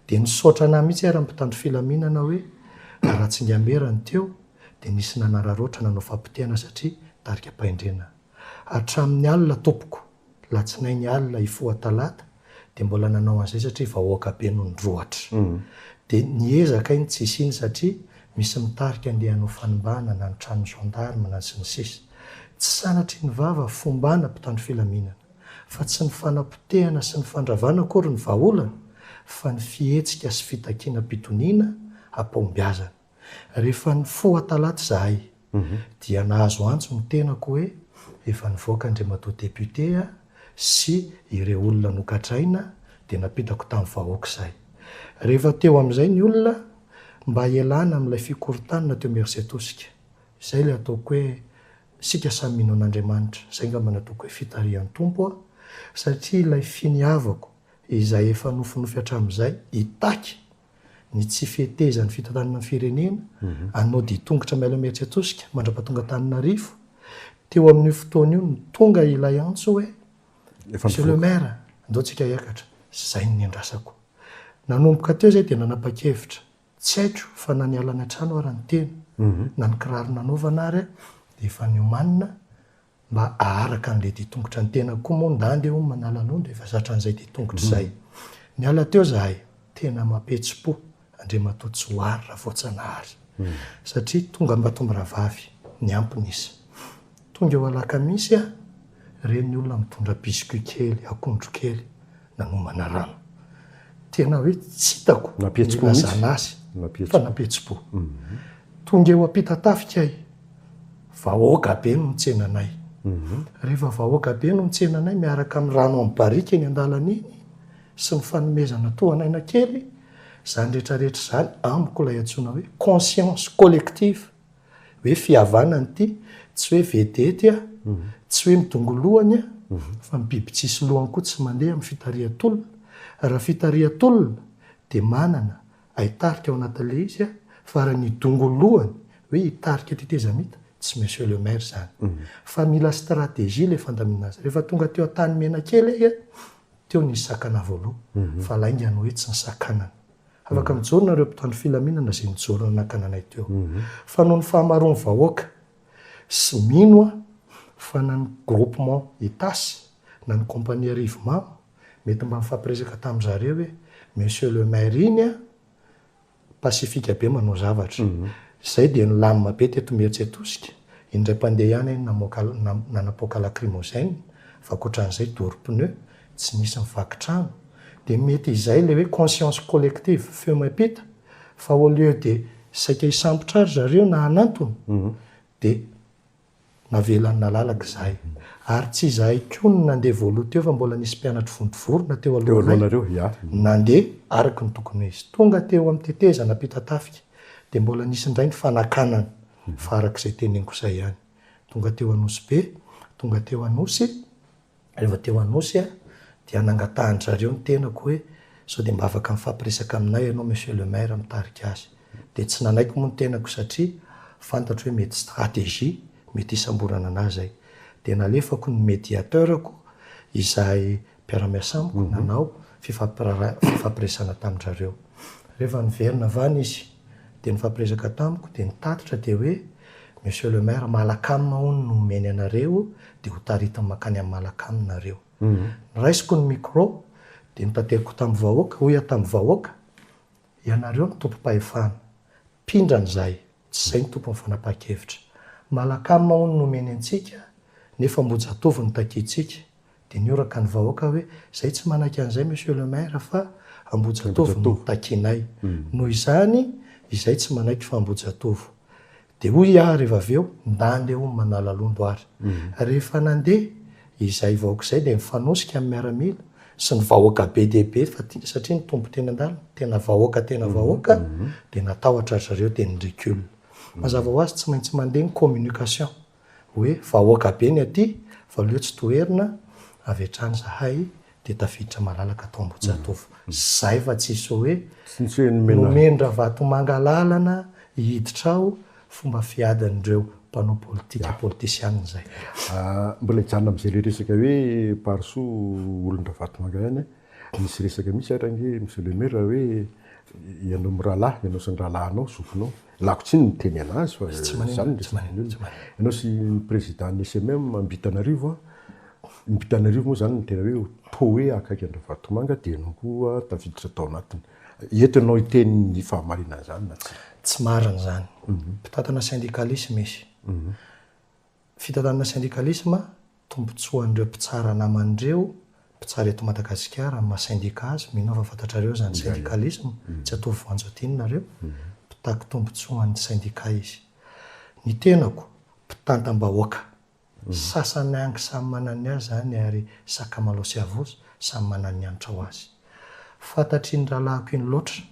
Dia nisaotra anah mihitsy ara ny mpitandro filaminana hoe Ratsingamera ny teo dia nisy nanararaotra nanao fampotehana satria tarika am-pahendrena. Hatramin'ny alina tompoko. Latsinainy alina hifoha talata dia mbola nanao an'izay satria vahoaka be no nirohotra. Dia niezaka iny tsisy iny satria misy mitarika andeha hanao fanimbana na ny tranon'ny gendarme na ny sy ny sisa. Tsy sanatry ny vava fombana mpitandro filaminana fa tsy ny fanapotehana sy ny fandravana akory ny vahaolana fa ny fihetsika sy fitakiana-pitoniana hampahombiazana. Rehefa nifoha talata izahay dia nahazo antso ny tenako hoe efa nivoaka Andriamatoa Député sy ireo olona nogadraina dia nampitako tamin'ny vahoaka izay. Rehefa teo amin'izay ny olona mba hialana amin'ilay fikorontanana teo Imerisetosika. Izay ilay ataoko hoe isika samy mino an'Andriamanitra, izay ngamba no ataoko hoe fitarihan'ny Tompo aho satria ilay finiavako izay efa nofinofy hatramin'izay hitaky ny tsy fetezan'ny fitantanana ny firenena, anao dia tongotra miala Imerintsiatosika mandrapa tonga Antananarivo, teo amin'io fotoana io no tonga ilay antso hoe Monsieur le Maire, andao tsika hiakatra, izay no niandrasako. Nanomboka teo izay dia nanapa-kevitra, tsy haiko fa na niala any an-trano ara ny tena, na ny kiraro nanaovana ary dia efa niomanina Mba aharaka an'ilay dia tongotra ny tenako koa moa ndande hono manala loha ndefa zatra an'izay dia tongotra izay. Niala teo zahay. Tena mampihetsi-po, Andriamatoa Johary Ravoatsanahary. Satria tonga Ambatomirahavavy, niampy ny isa. Tonga eo Alakamisy aho, reny ny olona mitondra biscuits kely, akondro kely. nanomana rano. Tena hoe tsy hitako ny ilazana azy fa nampihetsi-po. Tonga eo am-pita-tafika ahy, vahoaka be no nitsena anay. Rehefa vahoaka be no nitsena anay miaraka amin'ny rano amin'ny barika eny an-dalana eny sy ny fanomezana tohan'aina kely, izany rehetra rehetra izany amiko ilay antsoina hoe conscience collective. Hoe fihavanana ity, tsy hoe vedety a, tsy hoe midongolohany a, fa ny biby tsisy lohany koa tsy mandeha amin'ny fitarihan-tolona. Raha fitarihan-tolona dia manana hay tarika ao anatin'ilay izy a, fa raha ny dongolohany hoe hitarika tetezamita, tsy Monsieur le Maire izany. Fa mila stratégie ilay fandaminana azy. Rehefa tonga teo Antanimena kely ahy a, teo nisy sakana voaloha, fa lainga ny hoe tsy nisakanana. Afaka mijoro nareo mpitandro filaminana zay nijoro nanakana anay teo. Fa noho ny fahamaroan'ny vahoaka sy mino aho fa na ny groupement Itasy na ny compagnie Rivomamo mety mba nifampiresaka tamin zareo hoe monsieur le maire iny an pacifique be manao zavatra. Zay dia nilamina be teto Imerintsiatosika, indray mpandeha ihany namoaka nanapoaka lacrymogène fa akoatran'izay doro pneu tsy nisy nivaky trano, dia mety izay ilay hoe conscience collective feo miampita fa au lieu de saika hisambotra ry zareo na hanantona dia navelan'i nalalaka izahay ary tsy izahay koa no nandeha voaloha teo fa mbola nisy mpianatry vontovorona teo alohanay nandeha araka ny tokony ho izy. Tonga teo amin'ny tetezana Ampitatafika dia mbola nisy indray ny fanakanana fa araka izay teneniko izay ihany, tonga teo Anosibe, tonga teo Anosy, Rehefa teo Anosy aho dia nangatahan-dry zareo ny tenako hoe sao dia mba afaka mifampiresaka aminay ianao Monsieur le Maire mitarika azy. Dia tsy nanaiko moa ny tenako satria fantatro hoe mety stratégie, mety hisamborana an'ahy izay. Dia nalefako ny médiateur-ko izay mpiara-miasa amiko nanao fifampiresana tamin-dry zareo. Rehefa niverina avy any izy dia nifampiresaka tamiko dia ny tatitra dia hoe. Monsieur le Maire, Malacam hono no omeny anareo dia ho taritiny mankany amin'ny Malacam nareo. Noraisiko ny micro dia notateriko tamin'ny vahoaka, hoy aho tamin'ny vahoaka, ianareo no tompom-pahefana, mpindrana izahay, tsy izay ny tompon'ny fanapahan-kevitra. Malacam hono no omeny antsika, nefa Ambohijatovo no takiantsika, Dia nihoraka ny vahoaka hoe, Izay tsy manaiky an'izay Monsieur le Maire fa Ambohijatovo no takianay. Noho izany, izay tsy manaiky fa Ambohijatovo. Dia hoy aho rehefa avy eo, Ndà andeha hono Manalalondo ary. Rehefa nandeha izay vahoaka izay dia nifanosika amin'ny miaramila sy ny vahoaka be dia be fa tia satria ny Tompo teny an-dalana, tena vahoaka tena vahoaka, dia natahotra ry zareo dia ni-recule. Mazava ho azy tsy maintsy mandeha ny communication. hoe vahoaka be ny aty fa leo tsy toherina avy hatrany zahay dia tafiditra malalaka tao Ambohijatovo zay fa tsisy hoe nomen Ravatomanga lalana hiditra ao fomba fiadin'ireo mpanao politika politisianina zay. Mbola hijanona amzay le resaka hoe Parisoa olon-dRavatomanga ihany a, misy resaka mihitsy ary ange Monsieur le Maire hoe ianao mirahalahy, ianao sy ny rahalahinao, zokinao, Lako tsiny miteny anazy fa tsy maneno tsy maneno tsy maneno. Ianao sy ny président ny SMM ambitanarivo a, ambitanarivo moa zany ny tena hoe poe akaiky andravatomanga dia ianao koa tafiditra tao anatiny. Eto ianao hiteny ny fahamarinan'izany na tsia. Tsy marina izany. Mpitantana syndicalisme izy. Fitantanana sendikalisma, tombotsoan'ireo mpitsara naman'ireo mpitsara eto Madagasikara amin'ny maha sendika azy, mino aho fa fantatrareo izany sendikalisma, tsy hatovo voanjo adino nareo, mpitaky tombotsoan'ny sendika izy. Ny tenako, mpitantam-bahoaka. Sasany angy samy manana ny azy izany ary sakamalao sy havos samy manana ny hanitra ho azy. Fantatry iny rahalahiko iny loatra,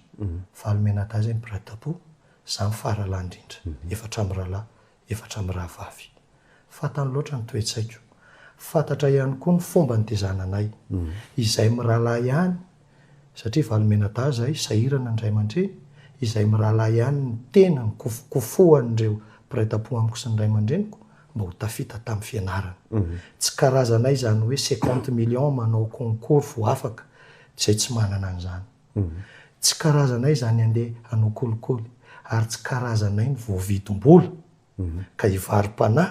Valomenadahy izay mibradapo, izaho ny faharahalahany indrindra, efatra mirahalahy, efatra mirahavavy. Fantany loatra ny toe-tsaiko. Fantatra ihany koa ny fomba nitezana anay. Izay mirahalahy ihany, satria valomenadahy izahay, sahirana ny ray aman-dreny, izay mirahalahy ihany no tena nikofokofohan'ireo mpiray tampo amiko sy ny ray aman-dreniko mba ho tafita tamin'ny fianarana. Tsy karazanay izany hoe cinquante millions manao concours vao afaka, izay tsy manana an'izany. Tsy karazanay izany handeha hanao kolikoly ary tsy karazanay ny voavidim-bola ka hivarom-panahy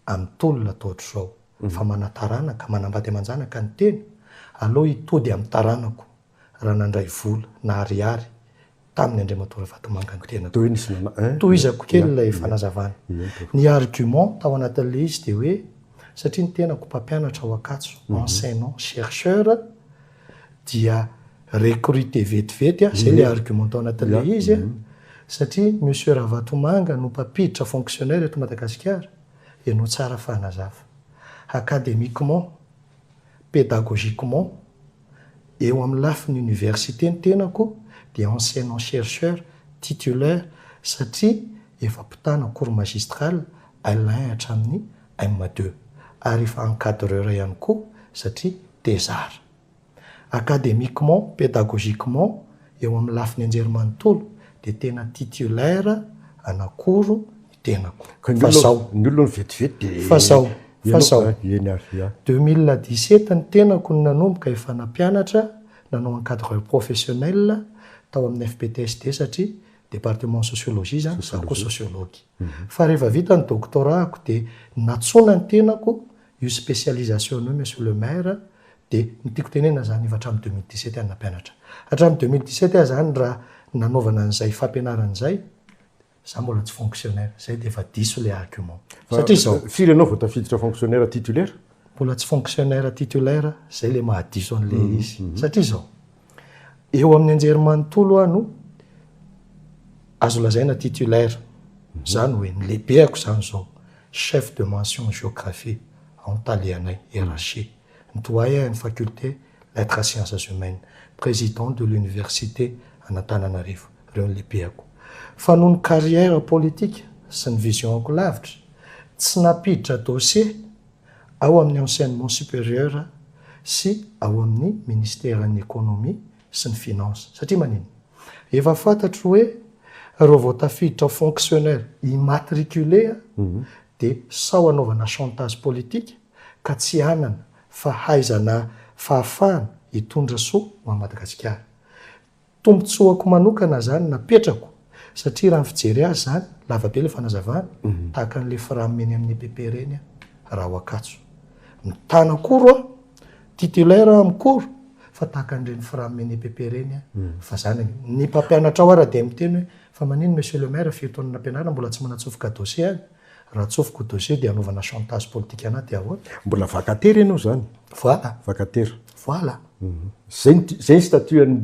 amin'ny tolona atao hatrizao fa mana-taranaka, manambady aman-janaka ny tena, aleo hitody amin'ny taranako raha nandray vola na ariary taminy Andriamatoa Ravatomanga ny tenako. Tohizako kely ilay fanazavana. Ny argument tao anatin'ilay izy dia hoe satria ny tenako mpampianatra ao Ankatso, enseignant chercheur, dia recruter vetivety a, zay le argument tao anatin'ilay izy a, satria Monsieur Ravatomanga no mpampiditra fonctionnaire eto Madagasikara, ianao tsara fanazava, academiquement, pédagogiquement, eo amin'ny lafiny université ny tenako dia enseignant chercheur titulaire satria efa mpitana cours magistral Alain hatramin'ny M deux ary efa encadreur ihany koa satria thésard. Académiquement, pédagogiquement eo amin'ny lafiny anjerimanontolo dia tena titulaire anakoro ny tenako. Fa zao. Ny olona vetivety dia. Fa zao. Fa zao. Eny ary ia. Deux mille dix sept ny tenako no nanomboka efa nampianatra, nanao encadreur professionnel tao amin'ny FPTSD satria département sociologie zany, za koa sociologue. Fa rehefa vita ny doctorat-ko dia nantsoina ny tenako io spécialisation io Monsieur le Maire dia ny tiako tenenina izany efa hatramin'ny deux mille dix sept aho nampianatra. Hatramin'ny deux mille dix sept aho izany raha nanaovana an'izay fampianarana izay izaho mbola tsy fonctionnaire. Izay dia efa diso ilay argument. Satria izao. Firy ianao vao tafiditra fonctionnaire titulaire? Mbola tsy fonctionnaire titulaire, izay ilay mahadiso an'ilay izy. Satria izao. Eo amin'ny anjerimanontolo aho no azo lazaina titulaire. Izany hoe ny lehibeako izany izao chef de mention géographie ao amin'ny talehanay, RH, ny doyen-n'ny faculté lettres et sciences humaines, président de l'université an'Antananarivo. Ireo no lehibeako. Fa noho ny carrière politique sy ny vision-ko lavitra, tsy nampiditra dossier ao amin'ny Enseignement Supérieur sy ao amin'ny Ministeran'ny Ekonomia sy ny Finances. Satria manina? Efa fantatro hoe reo vao tafiditra ho fonctionnaire immatriculé dia sao hanaovana chantage politique ka tsy hanana fahaizana fahafahana hitondra soa ho an'i Madagasikara. Tombotsoako manokana izany napetrako satria raha ny fijery azy izany, lava be ilay fanazavana, tahaka an'ilay fram eny amin'ny EPP ireny aho raha ao Ankatso. Mitana akoro aho, titulaire aho amin'ny cours fa tahaka an'ireny fram eny EPP ireny aho fa izany anie. Ny mpampianatra ao ara dia miteny hoe fa manino monsieur le maire firy taona nampianarina mbola tsy manatsofoka dossier any? Raha atsofoko dossier dia anaovana chantage politique anah dia ahoana? Mbola vacataire ianao izany. Voilà. Vacataire. Voilà. Izay ny izay ny statut an'i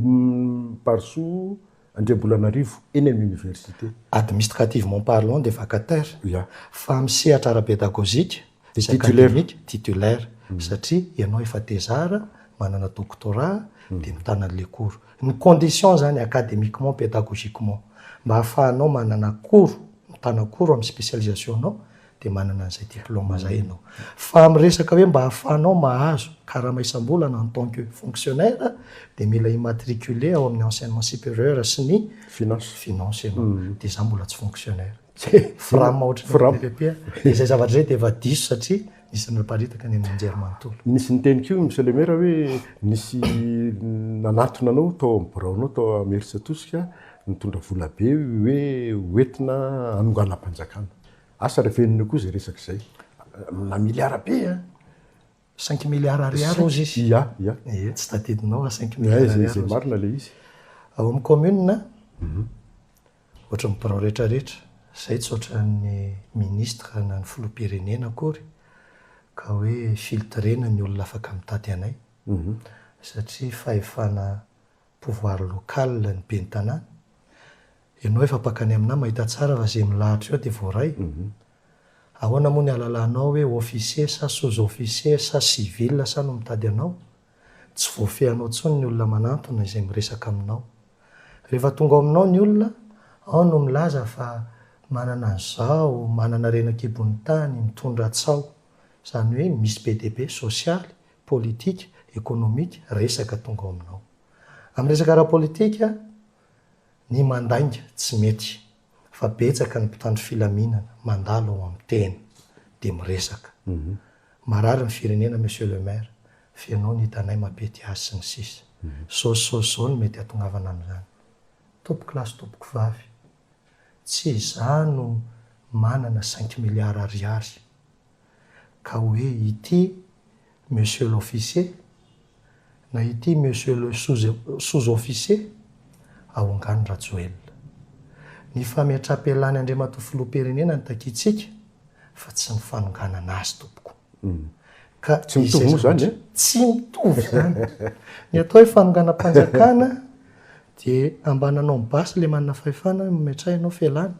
Barisoa Andriambolanarivo eny amin'ny université. Administrativement parlant dia vacataire. Ya. Fa amin'ny sehatra ara-pédagogique sy académique, titulaire. Satria ianao efa thésard, manana doctorat dia mitana an'ilay cours. Ny conditions zany academiquement, pedagogiquement, mba ahafahanao manana akoro, mitana akoro amin'ny spécialisation-nao, dia manana an'izay diplôme izay ianao. Fa amin'ny resaka hoe mba ahafahanao mahazo karama isam-bolana en tant que fonctionnaire, dia mila immatriculer ao amin'ny enseignement supérieur sy ny Finance. finance ianao. Dia izaho mbola tsy fonctionnaire. Dia fram ohatran'ny Fram. DPP. Dia izay zavatra izay dia efa diso satria Isan'ny naparitaka ny andian-jery manontolo. Nisy niteny koa i Michel Emera hoe nisy nanatona anao tao amin'ny biraonao tao Imerintsiatosika nitondra vola be hoe hoentina hanonganam-panjakana. Asa ry venona io koa izay resaka izay. Aminà miliara be an! Cinq milliards ariary hozy izy. Ia, ia. Ie, tsy tadidinao fa cinq milliards ariary hozy. Izay marina ilay izy. Ao amin'ny kaominina, Ohatry ny birao rehetra rehetra izay tsy ohatran ny ministra na ny filoham-pirenena akory ka hoe filtrena ny olona afaka mitady anay satria fahefana pouvoir local ny ben'ny tanàna. Ianao efa mpaka any aminà mahita tsara fa izay milahatra eo dia voaray. Ahoana moa ny alalanao hoe officier sa sous-officier sa civil sa no mitady anao? Tsy voafehinao intsony ny olona manantona izay miresaka aminao. Rehefa tonga ao aminao ny olona, ao no milaza fa manana an'izao, manana reny an-kibon'ny tany, mitondra tsaho. Izany hoe misy be dia be sosialy, politika, ekonomika, resaka tonga ao aminao. Amin'ny resaka ara-politika, ny mandainga tsy mety. fa betsaka ny mpitandro filaminana mandalo ao amin'ny tena dia miresaka. Marary ny firenena Monsieur le Maire, feno ny hitanay mapety azy sy ny sisa. Saosy saosy zao no mety atongavana amin'izany. Tompoko lahy sy tompoko vavy, tsy izaho no manana cinq milliards ariary ka hoe ity Monsieur l'officier, na ity Monsieur le sous-officier, Ahongano Rajoelina. Ny fametram-pialany Andriamatoa Filoham-pirenena no takiantsika fa tsy ny fanonganana azy tompoko. Ka izay zavatra, tsy mitovy izany. Ny atao hoe fanonganam-panjakana dia ambany anao ny basy ilay manana fahefana, mametraha ianao fialany.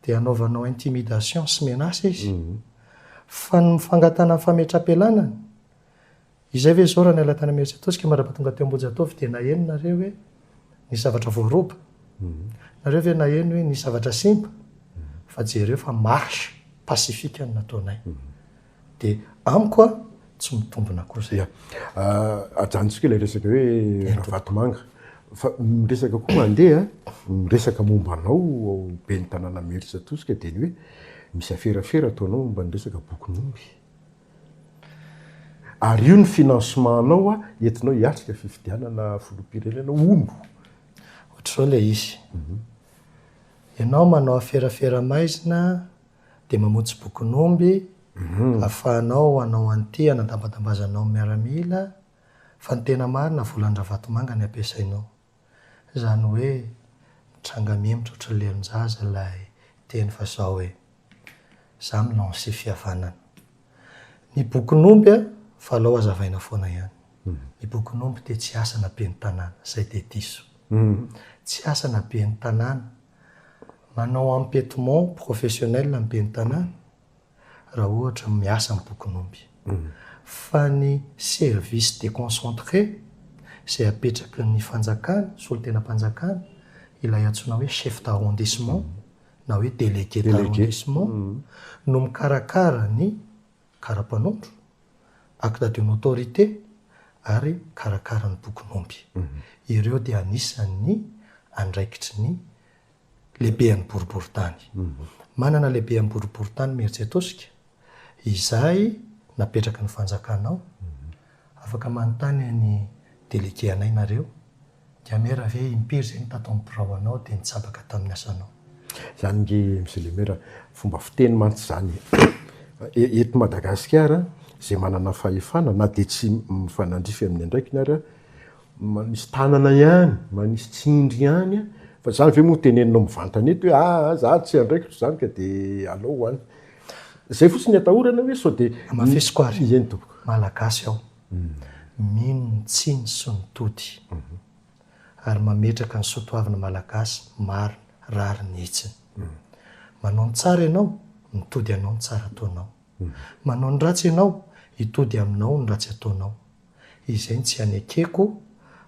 dia anaovanao intimidation sy menace izy fa ny fangatahana ny fametrapelana izay ve zao raha niala tany amin'ny Imeritsiatosika mandrapa tonga teo Ambohijatovo dia naheno nareo hoe nisy zavatra voaroba? nareo ve naheno hoe nisy zavatra simba? fa jereo fa marche pacifique no nataonay De amiko a, tsy mitombina kosa. Ya. Ajanontsika ilay resaka hoe Ravatomanga. Fa ny resaka koa mandeha, ny resaka momba anao ao ben'ny tanàna Mersa Tosika dia ny hoe misy aferafera ataonao momba ny resaka bokin'omby. Ary io ny financement anao entinao hiatrika fifidianana filoham-pirenena hono. Ohatr'izao ilay izy. Ianao manao aferafera maizina Dia mamonjy bokin'omby afahanao hanao an'ity hanadambadambazanao ny miaramila fa ny tena marina volan-dRavatomanga ny ampiasainao. Izany hoe mitranga mihemitra ohatran'ny lelon-jaza ilay teny fa izao hoe za mi-lancer fihavanana. Ny bokin'omby a, fa alao hazavaina foana ihany. Ny bokin'omby dia tsy asana ben'ny tanàna, izay dia diso. Tsy asana ben'ny tanàna. Manao empietement professionnel ny ben'ny tanàna raha ohatra miasa ny bokin'omby. Fa ny service deconcentré izay apetraky ny fanjakana, solontenam-panjakana, ilay antsoina hoe chef d'arrondissement na hoe délégué d'arrondissement no mikarakara ny kara-panondro, acte de notorité, ary karakara ny bokin'omby. Ireo dia anisan'ny andraikitry ny lehibean'ny boriborintany. Manana lehibean'ny boriborintany Mierzetosika, izay napetraky ny fanjakana ao. Afaka manontany an'i Delege Anay nareo. Dia mera ve impiry izay ny tato amin'ny birao anao dia nitsabaka tamin'ny asanao? Izany nge Mzle Mera, fomba fiteny mantsy izany e! Eto Madagasikara, izay manana fahefana, na dia tsy mifanandrify amin'ny andraikiny ary, manisy tanana ihany, manisy tsindry ihany, fa izany ve moa teneninao mivantana eto hoe aa izaho tsy andraikitro izany ka dia alao ho any? Izay fotsiny ny atahorana hoe sao dia. Hamafisiko ary. Eny tompoko. Malagasy aho. mino ny tsiny sy ny tody ary mametraka ny soatoavina malagasy marina rariny hitsiny. Manao ny tsara ianao, mitody anao ny tsara ataonao. Manao ny ratsy ianao, hitody aminao ny ratsy ataonao. Izay no tsy hanekeko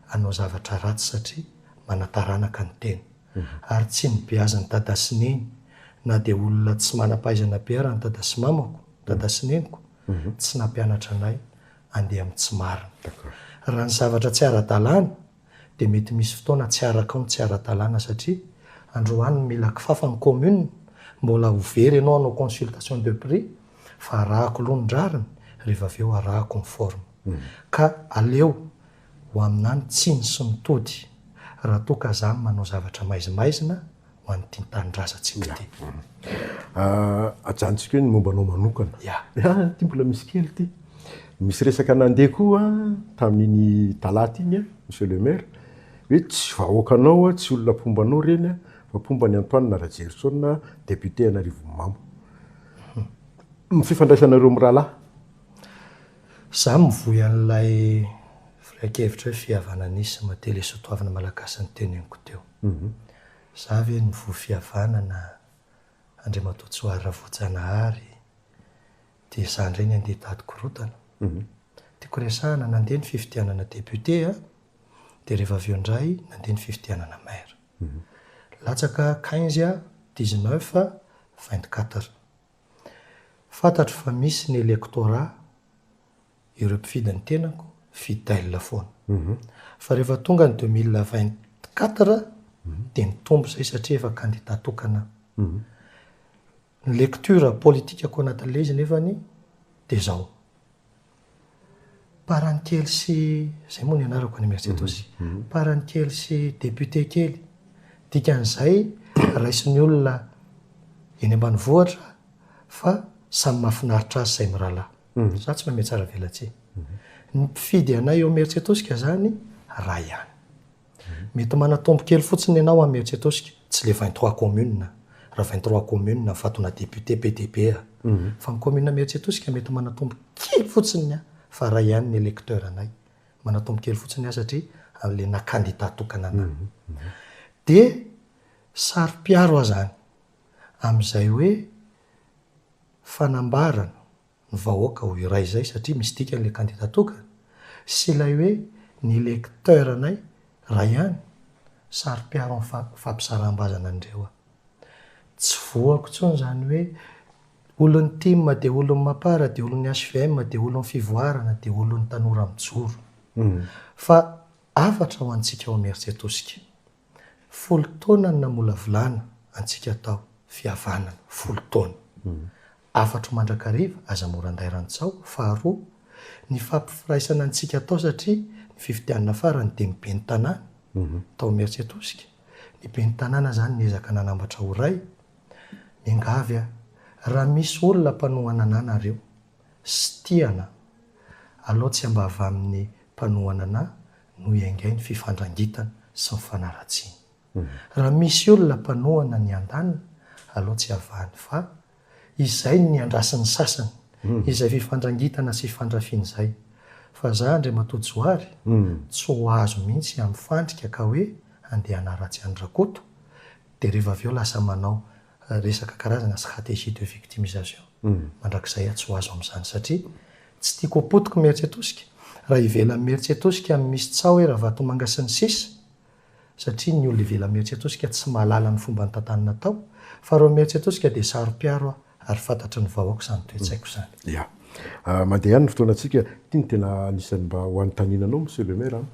hanao zavatra ratsy satria manataranaka ny tena. Ary tsy nibeazin'i Dada sy Neny na dia olona tsy manam-pahaizana be ara ny Dada sy Mamako, Dada sy Neniko, tsy nampianatra anay andeha amin'ny tsy marina. Raha ny zavatra tsy ara-dalàna dia mety misy fotoana tsy arakao ny tsy ara-dalàna satria androany no mila kifafa ny commune, mbola ho very ianao hanao consultation de prix fa arahako aloha ny rariny rehefa avy eo arahako ny forme. Ka aleo ho aminà ny tsiny sy ny tody raha toa ka zany manao zavatra maizimaizina. ho an'ny tim tanindrazan tsy mety ajanontsika hoe ny momba anao manokana ya ty mbola misy kely ty misy resaka nandeha koa tamin'iny talata iny monsieur le maire hoe tsy vahoakanao tsy olona mpomba anao ireny fa mpomba an'i antoine rajerison député an arivonimamo ny fifandraisanareo mirahalahy za mivoy an'ilay firehan-kevitra hoe fihavanana izy sy maha tele soatoavina malagasy ny teneniko teo Za ve no voa fihavanana Andriamatoa Tsoary Ravoajanahary dia za indray ny handeha hitady korontana? Tiako resahana, nandeha ny fifidianana député a, dia rehefa avy eo indray nandeha ny fifidianana maire. Latsaka quinze a, dix neuf a, vingt quatre. Fantatro fa misy ny electorat ireo mpifidy ny tenako fidèle foana fa rehefa tonga ny deux mille vingt quatre dia nitombo izay satria efa candidat tokana aho ny lecture politikako anatin'ilay izy nefany dia izao par any kely sy izay moa ny anarako any merci atosy par any kely sy député kely dikan'izay raisin'ny olona eny ambanivohitra fa samy mahafinaritra azy izay mirahalahy Za tsy manome tsara velatsihy. Ny mpifidy anay eo Imerintsiatosika zany ray ihany. Mety manatombo kely fotsiny ianao am Imerintsiatosika, tsy le vingt trois communes, raha vingt trois communes aho fahatonga député PDP aho. Fa ny commune Imerintsiatosika mety manatombo kely fotsiny aho fa ray ihany ny électeur anay. Manatombo kely fotsiny aho satria le na candidat tokana anay. Dia saro-piaro aho zany amzay hoe. fanambarana ny vahoaka ho iray izay satria misy dikany ilay kandida tokana sy ilay hoe ny lecteur-nay iray ihany, saro-piaro ny fampisaram-bazana an'ireo a. Tsy voako intsony izany hoe olon'ny tim dia olon'ny Mapar dia olon'ny hvm dia olon'ny fivoarana dia olon'ny tanora mijoro. Fa hafatra ho antsika ao Imeritsiatosika. Folo taona no namolavolana antsika tao, fihavanana, folo taona. Afatro mandrakariva, aza mora anday rantsaho, faharoa, nifampifiraisana antsika tao satria ny fifidianana farany dia ny ben'ny tanàna, tao Imeritsiatosika, ny ben'ny tanàna izany niezaka nanambatra ho ray, miangavy aho, raha misy olona mpanohana anà nareo, sy tia anà, alao tsy ambava amin'ny mpanohana anà, no iaingain' ny fifandrangitana sy ny fanaratsiana. Raha misy olona mpanohana ny andaniny, aleo tsy avahany fa izay no niandrasin' ny sasany izay fifandrangitana sy fandrafiana izay. Fa za Andriamatoa Johary tsy ho azo mihitsy hamifandrika ka hoe handeha hanaratsy an' Rakoto dia rehefa avy eo lasa manao resaka karazana stratégie de victimisation mandrakizay aho tsy ho azo amin'izany satria tsy tiako ho potiky merce tosika raha ivelan'ny merce tosika ny misy tsaho hoe ravatomanga sy ny sisa satria ny olona ivelan'ny merce tosika tsy mahalala ny fomba nitantany natao fa reo merce tosika dia saropiaro aho ary fantatry ny vahoaka izany toetsaiko izany ya mandeha ihany ny fotoanantsika ity no tena anisan'ny mba ho anontaniana anao monsieur le maire an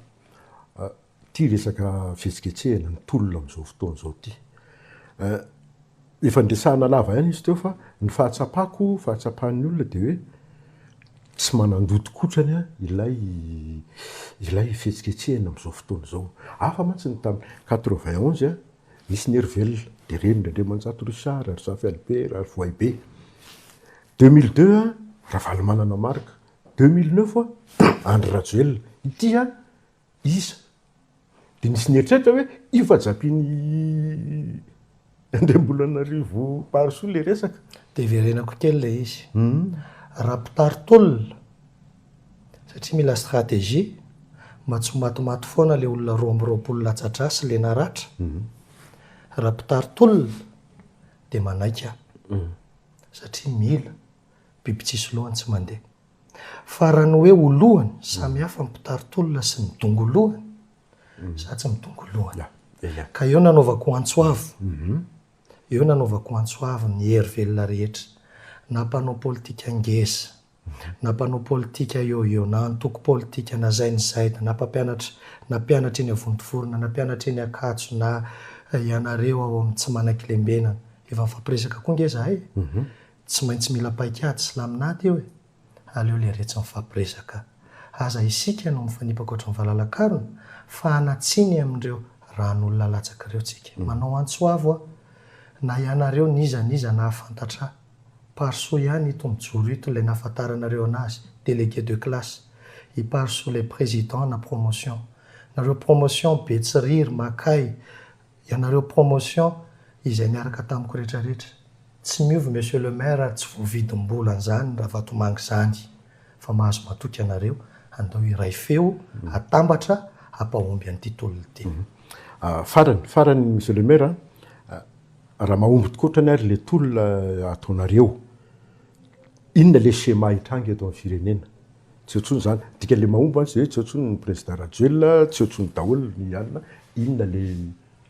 Ity resaka fihetsiketsehana ny tolona amin'izao fotoana izao ity. Efa niresahana lava ihany izy teo fa ny fahatsapako, fahatsapan'ny olona dia hoe tsy manan-doto kotrany ilay ilay fihetsiketsehana amin'izao fotoana izao. Hafa mantsy ny tamin'ny quatre-vingt onze, nisy ny hery velona, dia reniny Andriamanjato Richard, ry Zafy Albert, ry Voahibe. Deux mille deux, Ravalomanana Marc. Deux mille neuf, Andry Rajoelina. Ity an! Isa. Dia nisy nieritreritra hoe io fa japin'i Andriambolanarivo Parisoa ilay resaka. Dia verenako kely ilay izy. Raha mpitari tolona, satria mila stratégie, mba tsy ho matimaty foana ilay olona roa amby roapolo latsa-drà sy lena ratra, raha mpitari tolona dia manaiky aho, satria mila. biby tsisy lohany tsy mandeha. Fa raha ny hoe ho lohany, samy hafa ny mpitari-tolona sy ny dongo lohany, za tsy midongo lohany. Ka eo nanaovako antso avo, mhm. eo nanaovako antso avo ny hery velona rehetra, na mpanao politika ngeza, na mpanao politika eo eo, na antoko politika, na zay ny zay, na mpampianatra, na mpianatra eny Avontovorona, na mpianatra eny Ankatso, na ianareo ao amin'ny tsy manan-kilembenana. Efa nifampiresaka koa nge zahay. Mhm. Tsy maintsy mila paikady sy laminady eo e! Aleo leretsy mifampiresaka. Aza isika no mifanipaka ohatry ny valalakarona fa hanatsiny amin'ireo ran'olona latsaka ireo tsika. Manao antso avo aho. Na ianareo n'iza n'iza nahafantatra Parisoa ihany ito mijoro ito ilay nafantaranareo anazy, délégué de classe. I Parisoa ilay président na promotion. Nareo promotion Betsiriry, Makay, Ianareo promotion izay niaraka tamiko rehetra rehetra. Tsy miova monsieur le maire ary tsy voavidim bola an'izany ravatomanga izany. Fa mahazo matoky anareo, andao hiray feo, hatambatra, hampahomby an'ity tolona ity. Farany, farany monsieur le maire, raha mahomby tokoa otrany ary le tolona ataonareo. Inona le schéma hitranga eto amin'ny firenena? Tsy eo tsony zany. Dika le mahomby an ze tsy eo tsony ny président Rajoelina, tsy eo tsony daholo ny alina. Inona le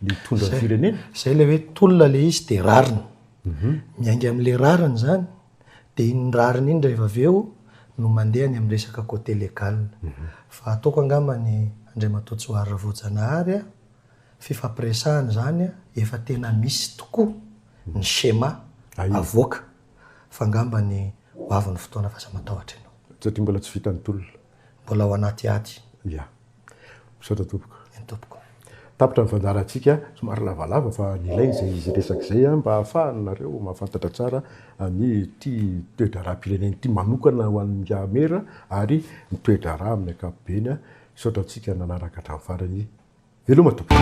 le hitondra ny firenena? Zay le hoe tolona le izy de rariny. Miainga amle rariny zany de iny rariny iny rehefa avy eo no mandeha any amin'ny resaka côté légal. Fa ataoko angamba ny Andriamatoa Johary Ravoajanahary a, fifampiresahana zany efa tena misy tokoa ny schéma avoaka. fa ngambany ho avy ny fotoana f'aza matahotra ianao. Satria mbola tsy vitan'ny tolona. Mbola ao anaty ady. Ya. Misaotra tompoko. Eny tompoko. Tapitra ny fandaharantsika, somary lavalava fa nilaina izay izy resaka izay mba hahafahanareo mahafantatra tsara an'ity toe-draharaham-pirenena ity manokana ho an'i Miaramera ary ny toe-draharaha amin'ny ankapobeny. Misaotra antsika nanaraka hatramin'ny farany. Veloma tompoko.